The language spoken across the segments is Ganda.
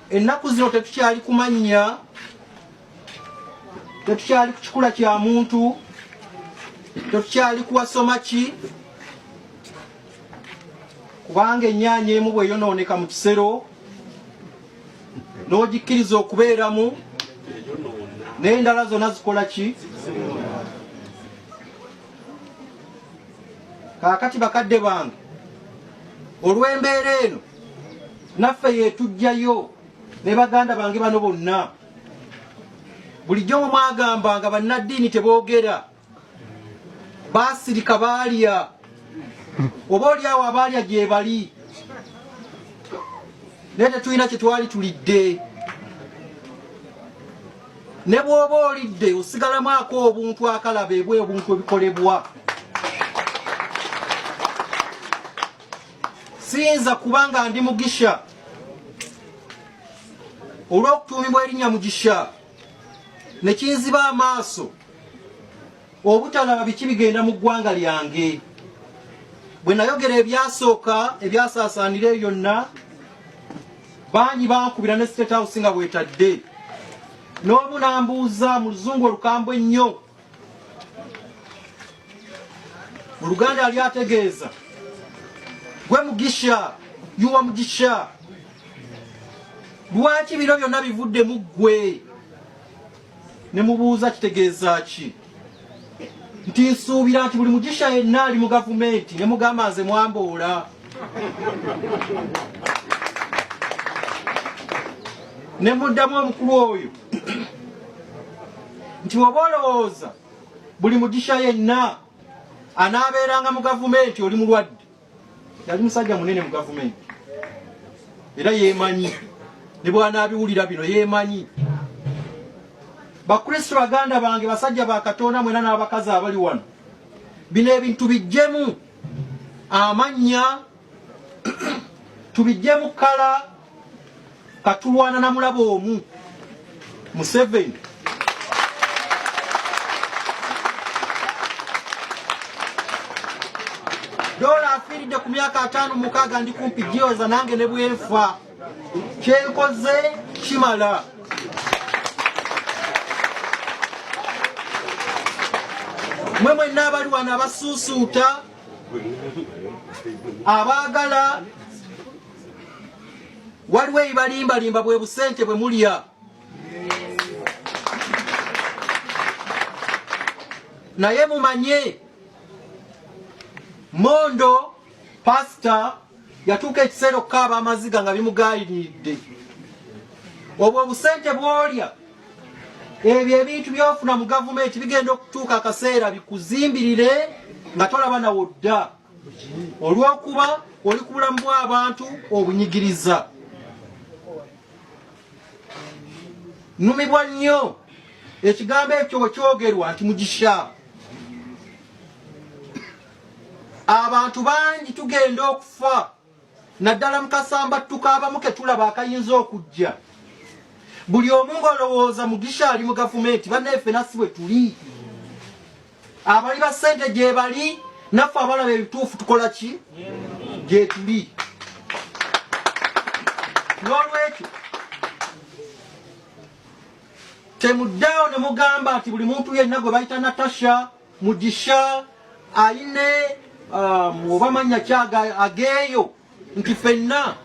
ennaku zino tetukyali kumannya tetukyali ku kikula kya muntu tetukyali kuwasoma ki kubanga ennyaanya emu bweyonooneka mu kisero n'ogikkiriza okubeeramu n'endala zonna zikola ki kaakati bakadde bange olw'embeera eno naffe yetujjayo ne baganda bange bano bonna bulijjo mwe mwagamba nga bannaddiini teboogera baasirika baalya oba oli awo abaalya gyebali naye tetulina kye twali tulidde ne bw'oba olidde osigalamu ako obuntu akalaba ebwe obuntu ebikolebwa siyinza kuba nga ndi mugisha olw'okutuumibwa erinnya mugisha ne kinziba amaaso obutalaba biki bigenda mu ggwanga lyange bwe nayogera ebyasooka ebyasaasaanira eyo yonna bangi bankubira ne state house nga bwetadde n'omu nambuuza mu luzungu olukambwe ennyo mu luganda yali ategeeza gwe mugisha yuwa mugisha lwaki bino byonna bivudde mu ggwe ne mubuuza kitegeeza ki nti nsuubira nti buli mugisha yenna ali mu gavumenti ne mugamba nze mwamboola ne muddamu omukulu oyo nti oba olowooza buli mugisha yenna anaabeeranga mu gavumenti oli mulwadde yali musajja munene mu gavumenti era yeemanyi ne bwanaabiwulira bino yeemanyi bakristo baganda bange basajja ba katonda mwena n'abakazi abali wano bino ebintu bijjemu amannya tubijjemu kala katulwana na mulaba omu Museveni dola afiiridde ku myaka ataano mukaaga ndi kumpi gyoza nange ne bwenfa kyenkoze kimala mwe mwenna abali wano abasuusuuta abaagala waliwo ebalimbalimba bwe busente bwe mulya naye mumanye mondo pasita yatuuka ekiseera okukaaba amaziga nga bimugayiridde obwo obusente bwolya ebyo ebintu byofuna mu gavumenti bigenda okutuuka akaseera bikuzimbirire nga tolaba nawo dda olw'okuba oli ku bulamu bw'abantu obunyigiriza numibwa nnyo ekigambo ekyo bwe kyogerwa nti mugisha abantu bangi tugenda okufa naddala mu kasambattuka abamu ke tulaba akayinza okujja buli omu ng'olowooza mugisha ali mu gavumenti bannaefe nasi bwe tuli abali ba ssente gye bali naffe abalaba ebituufu tukola ki gye tuli n'olwekyo temuddaawo ne mugamba nti buli muntu yenna gwe bayita natasha mugisha aline um, oba manya kyaga ageeyo nti fenna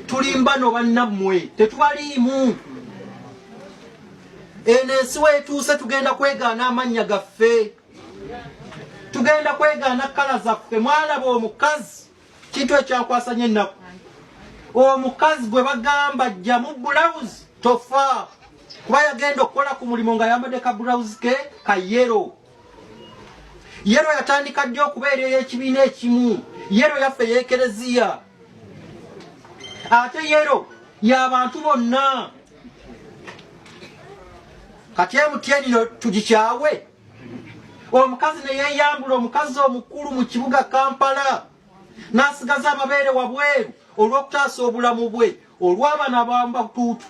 tulimba no bannammwe tetubaliimu eno ensi weetuuse tugenda kwegaana amannya gaffe tugenda kwegaana kkala zaffe mwalaba omukazi kintu ekyankwasa nyo ennaku omukazi gwe bagamba jjamu bulawuzi tofa kuba yagenda okukola ku mulimu nga yambadde ka bulawuzi ke ka yero yero yatandika ddi okubeera ey'ekibiina ekimu yero yaffe yekereziya ate yero yabantu bonna kati emutyenino tugikyawe omukazi ne yeeyambula omukazi omukulu mu kibuga kampala n'asigaza amabeere wabweru olw'okutaasa obulamu bwe olw'abaana bamba butuutu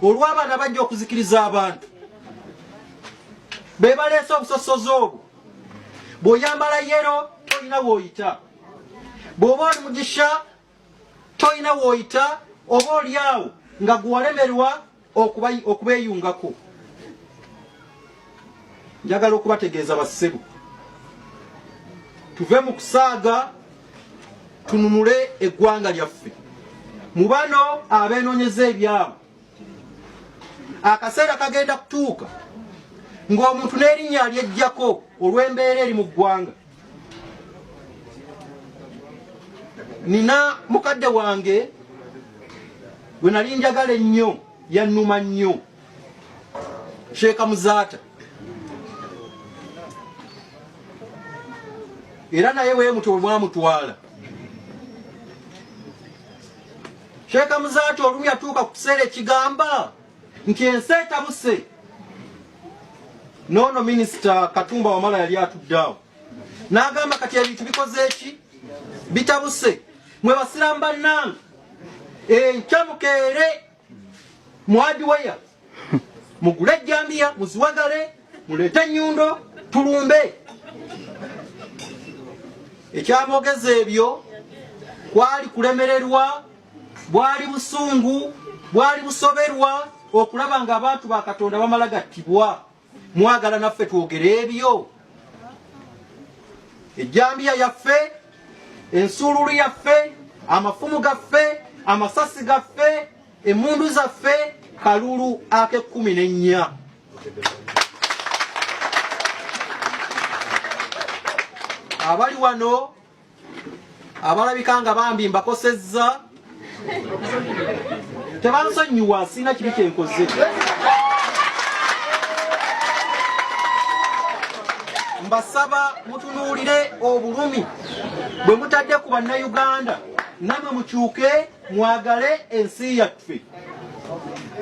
olw'abaana bajja okuzikiriza abantu be baleese obusosozi obwo bw'oyambala yero tolina w'oyita bw'oba oli mugisha tolina woyita oba olyawo nga gwewalemerwa okubeyungako njagala okubategeeza bassebo tuve mu kusaaga tununule eggwanga lyaffe mu bano abeenonyeza ebyabo akaseera kagenda kutuuka ng'omuntu n'erinnya alyejjako olw'embeera eri mu ggwanga nina mukadde wange gwe nali njagala ennyo yannuma nnyo sheeka muzaata era naye wemuto wemwamutwala sheeka muzaata olumu yatuuka ku kiseera ekigamba nti ensi etabuse noono minisita katumba wamala yali atuddaawo n'agamba kati ebintu bikoze eki bitabuse mwe basiramu bannange enkya mukeere mwadiweya mugule ejjambiya muziwagale muleete ennyundo tulumbe ekyamogeza ebyo kwali kulemererwa bwali busungu bwali busoberwa okulaba nga abantu ba katonda bamala gattibwa mwagala naffe twogere ebyo ejjambiya yaffe ensuululu yaffe amafumu gaffe amasasi gaffe emundu zaffe kalulu akekumi nennya abali wano abalabika nga bambi mbakosezza tebansonyiwa sirina kibi kyenkoze mbasaba mutunuulire obulumi bwe mutadde ku bannayuganda namwe mukyuke mwagale ensi yaffe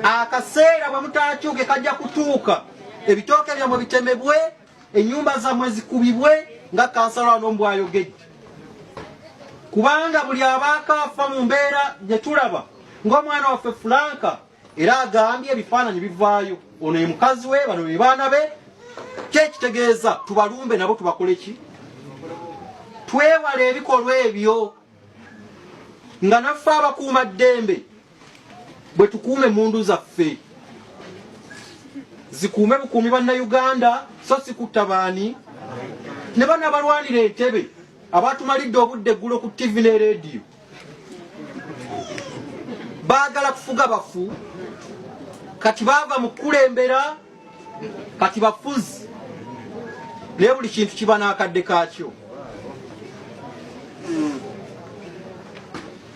akaseera bwe mutakyuke kajja kutuuka ebitooke byamwe bitemebwe enyumba zamwe zikubibwe nga kansala wano mbwayogedde kubanga buli abaako afa mu mbeera gye tulaba ng'omwana waffe fulanka era agambye ebifaananyi bivaayo ono ye mukazi we bano be baana be kyekitegeeza tubalumbe nabo tubakole ki twewale ebikolwa ebyo nga naffe abakuuma ddembe bwe tukuuma emmundu zaffe zikuume bukuumi bannayuganda so si kutta baani ne bano abalwanira entebe abatumalidde obudde eggulo ku ttivi ne leediyo baagala kufuga bafu kati baava mu kukulembera kati bafuzi naye buli kintu kiba n'akadde kaakyo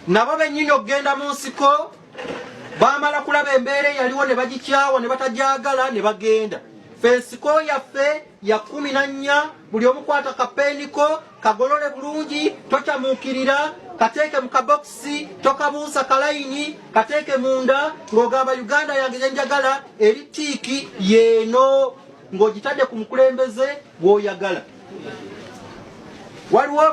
nabo bennyini okugenda mu nsiko bamala kulaba embeera eyaliwo ne bagikyawa ne batagyagala ne bagenda fe nsiko yaffe ya kkumi na nnya buli omu kwata kapeeni ko kagolole bulungi tokyamuukirira kateeke mu kabokisi tokabuusa kalayini kateeke munda ng'ogamba uganda yange gyenjagala eri tiiki yeeno ng'ogitadde ku mukulembeze gw'oyagala waliwo